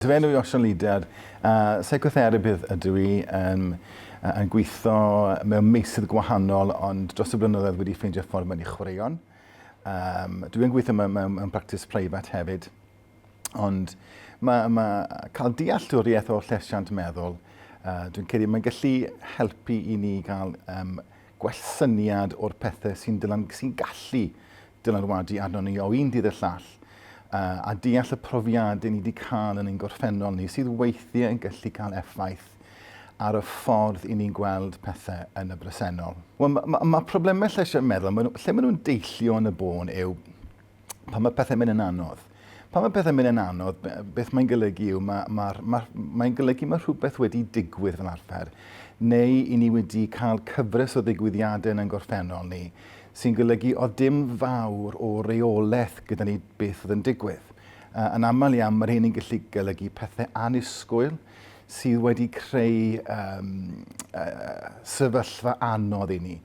Fy enw i yw Osian Leader a seicotherapydd ydw i yn yn gweithio mewn meysydd gwahanol ond dros y blynyddoedd wedi ffeindio ffordd mewn i chwaraeon. Um, dwi yn gweithio mewn, mewn, mewn practis preifat hefyd ond mae, mae cael dealltwriaeth o llesiant meddwl uh, dwi'n credu mae'n gallu helpu i ni gael um, gwell syniad o'r pethe sy'n dylan- sy'n gallu dylanwadu arnon ni o un dydd i'r llall, yy, a deall y profiade ni 'di cael yn ein gorffennol ni sydd weithie yn gallu cael effaith ar y ffordd i ni'n gweld pethe yn y bresennol. Wel, ma' ma' ma' probleme lleisiau meddwl, ma' nhw, lle ma' nhw'n deillio yn y bôn yw pan mae pethau'n mynd yn anodd. Pan mae pethau'n mynd yn anodd, beth mae'n golygu yw, mae, mae, mae, mae'n golygu mae rhywbeth wedi digwydd fel arfer, neu i ni wedi cael cyfres o ddigwyddiadau yn ein gorffennol ni, sy'n golygu oedd dim fawr o reolaeth gyda ni beth oedd yn digwydd. Uh, yn aml iawn, mae rhywun yn gallu golygu pethau anusgwyl sydd wedi creu um, uh, sefyllfa anodd i ni.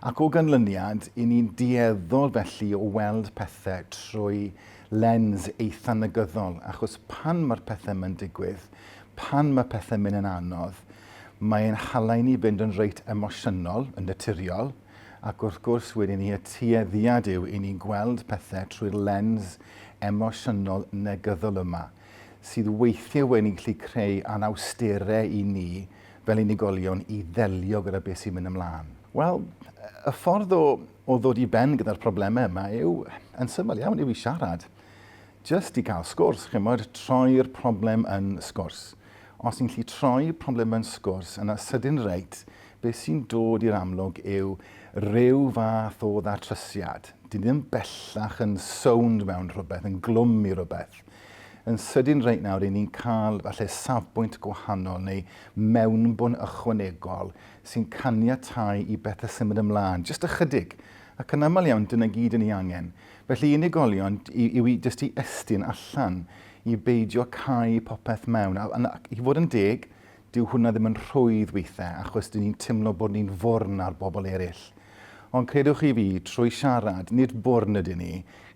Ac o ganlyniad, i ni'n dueddol felly o weld pethau trwy lens eitha' negyddol, achos pan mae'r pethau 'ma'n digwydd, pan mae pethau'n mynd yn anodd, mae e'n hala i ni fynd yn reit emosiynol, yn naturiol, ac wrth gwrs wedyn ni y tueddiad yw i ni gweld pethau trwy'r lens emosiynol negyddol yma, sydd weithiau wedyn ni'n gallu creu anawstere i ni, fel unigolion i ddelio gyda beth sy'n mynd ymlaen? Wel, y ffordd o, o ddod i ben gyda'r problemau yma yw, yn syml iawn, yw i siarad. Just i gael sgwrs, chi'n modd, troi'r problem yn sgwrs. Os ni'n lli troi problem yn sgwrs, yna sydyn reit, beth sy'n dod i'r amlwg yw rhyw fath o ddatrysiad. Dyn ni ddim bellach yn sownd mewn rhywbeth, yn glwm i rhywbeth. Yn sydyn reit nawr, ry'n ni'n cael falle safbwynt gwahanol neu mewnbwn ychwanegol sy'n caniatáu i bethau symud ymlaen, jyst ychydig, ac yn aml iawn dyna gyd yn ei angen. Felly unigolion yw i jyst i estyn allan, i beidio cau popeth mewn, ac i fod yn deg, Dyw hwnna ddim yn rhwydd weithiau achos dyn ni'n timlo bod ni'n fwrn ar bobl eraill. Ond credwch chi fi, trwy siarad, nid bwrn ydyn ni,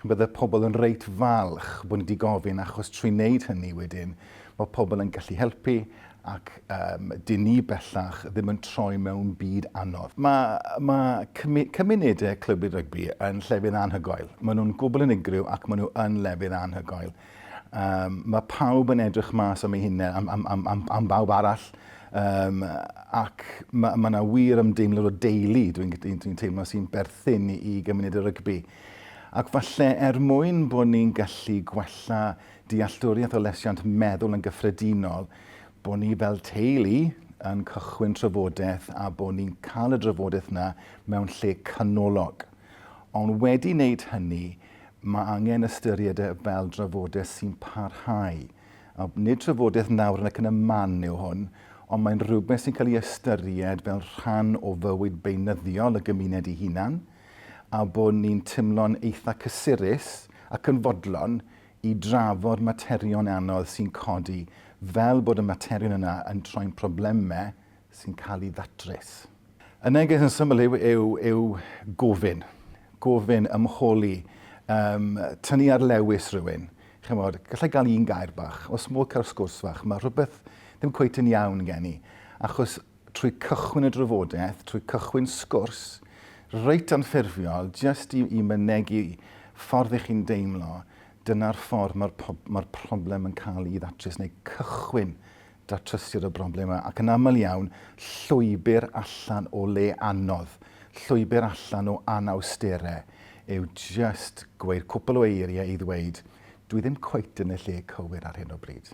bydde pobl yn reit falch bod ni 'di gofyn achos trwy wneud hynny wedyn, mae pobl yn gallu helpu ac um, dyn ni bellach ddim yn troi mewn byd anodd. Mae, mae cymu, cymunedau clwb rygbi yn llefydd anhygoel. Maen nhw'n gwbl unigryw ac maen nhw yn lefydd anhygoel. Um, mae pawb yn edrych mas am ei hunain, am, am, am, am, am bawb arall. Um, ac mae yna ma wir ymdeimlad o deulu, dwi'n dwi, dwi teimlo sy'n berthyn i, i gymuned y rygbi. Ac falle er mwyn bod ni'n gallu gwella dealltwriaeth o lesiant meddwl yn gyffredinol, bod ni fel teulu yn cychwyn trafodaeth a bod ni'n cael y drafodaeth yna mewn lle canolog. Ond wedi wneud hynny, Mae angen ystyried e fel drafodaeth sy'n parhau. A nid trafodaeth nawr yn ac yn y man yw hwn, ond mae'n rhywbeth sy'n cael ei ystyried fel rhan o fywyd beunyddiol y gymuned ei hunan, a bod ni'n timlo'n eitha cysurus ac yn fodlon i drafod materion anodd sy'n codi, fel bod y materion yna yn troi'n problemau sy'n cael ei ddatrys. Y neges yn syml yw, yw, yw gofyn, gofyn, ymholi, um, tynnu ar lewis rhywun. Chymod, gallai gael un gair bach, os modd cael sgwrs fach, mae rhywbeth ddim cweith yn iawn gen i. Achos trwy cychwyn y drafodaeth, trwy cychwyn sgwrs, reit anffurfiol, jyst i, i mynegu ffordd i chi'n deimlo, dyna'r ffordd mae'r ma problem yn cael ei ddatrys, neu cychwyn Datrysiad o broblemau ac yn aml iawn llwybr allan o le anodd, llwybr allan o anawsterau yw jyst gweud cwpl o eiriau i ddweud, dwi ddim cweit yn y lle cywir ar hyn o bryd.